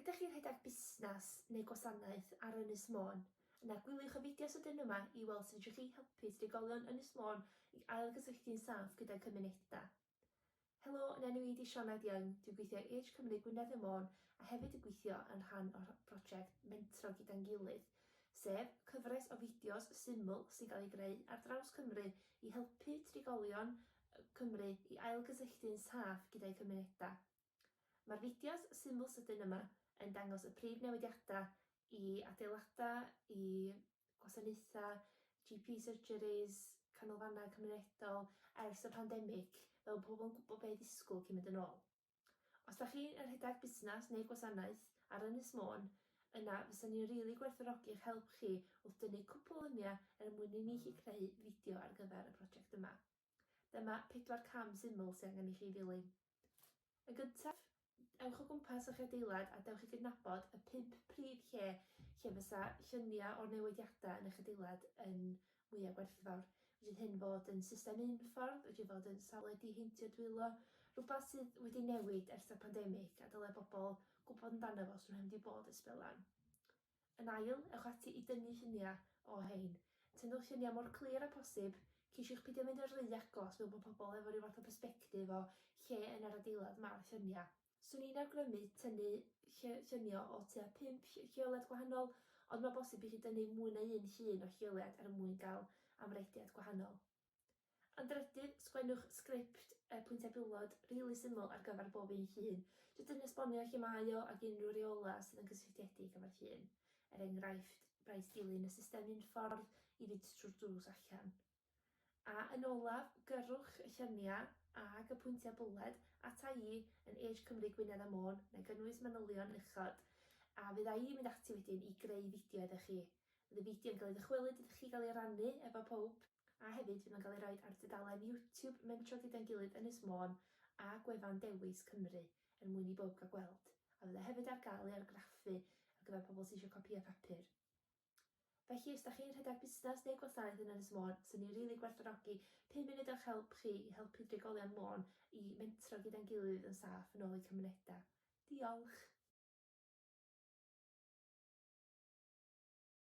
Ydych chi'n rhedeg busnes neu gwasanaeth ar Ynys Môn? Yna gwyliwch y fideo sydyn yma i weld sut fedrwch chi helpu trigolion Ynys Môn i ailgysylltu'n saff gyda'i cymunedau. Helo, yn enw i ydi Sioned Young, dwi'n gweithio i Age Cymru Gwynedd y Môn a hefyd yn gweithio yn rhan o'r prosiect Mentro Gyda'n Gilydd, sef cyfres o fideos syml sy'n cael ei greu ar draws Cymru i helpu trigolion Cymru i ailgysylltu'n saff gyda'i cymunedau. Mae'r fideos syml sydyn yma yn dangos y prif newidiadau i adeiladau, i gwasanaethau, GP surgeries, canolfannau cymunedol ers y pandemig, fel pobl yn gwybod beth ddisgwyl cyn mynd yn ôl. Os da chi'n rhedeg busnes neu gwasanaeth ar Ynys Môn, yna fysa ni'n rili gwerthfawrogi eich help chi wrth dynnu cwpl o luniau er mwyn i ni chi creu fideo ar gyfer y prosiect yma. Dyma pedwar cam syml sydd angen i chi ddilyn. Yn gyntaf, ewch o gwmpas eich adeilad a dewch i gydnabod y pump prif lle lle fysa lluniau o'r newidiadau yn eich adeilad yn mwyaf gwerthfawr. Wedi hyn fod yn system unffordd, wedi fod yn safle diheintio dwylo, rhywbeth sydd wedi newid ers y pandemig a dylai bobl gwybod amdano fo os nhw'n mynd i fod ysbelan. Yn ail, ewch ati i dynnu lluniau o hein. Tynnwch lluniau mor clir â phosib, ceisiwch peidio mynd yn rhy agos fel bod pobl efo rhyw fath o bersbectif o lle yn yr adeilad mae'r lluniau. Swn i'n awgrymu tynnu lluniau o tua pump lleoliad gwahanol, ond mae'n bosib i chi dynnu mwy na un llun o lleoliad er mwyn cael amrediad gwahanol. Am drydydd, sgwennwch sgript, y pwyntiau pillod, rili syml ar gyfer bob un llun. Jyst yn esbonio lle mae o ac unrhyw reolau sydd yn cysylltiedig efo'r llun. Er enghraifft, rhaid dilyn y system unffordd i fynd trwy'r drws allan. A yn olaf, gyrrwch y lluniau ag y pwyntiau bwled ata i yn Age Cymru Gwynedd a Môn, na i gynnwys manylion uchod, a fydda i'n mynd ati wedyn i greu fideo iddo chi. Bydd y fideo yn cael ei ddychwelyd iddo chi i gael ei rannu efo pawb. A hefyd fydd o'n cael ei roid ar dudalen YouTube Mentro Gyda'n Gilydd Ynys Môn a gwefan Dewis Cymru er mwyn i bawb gael gweld, a fydd o hefyd ar gael i argraffu ar gyfer pobl sy eisiau copïau papur. Felly os da chi'n rhedeg busnes neu gwasanaeth yn Ynys Môn, sy'n ni rili gwerthfawrogi pum munud o'ch help chi i helpu drigolion Môn i mentro gyda'n gilydd yn saff yn ôl eu cymunedau. Diolch!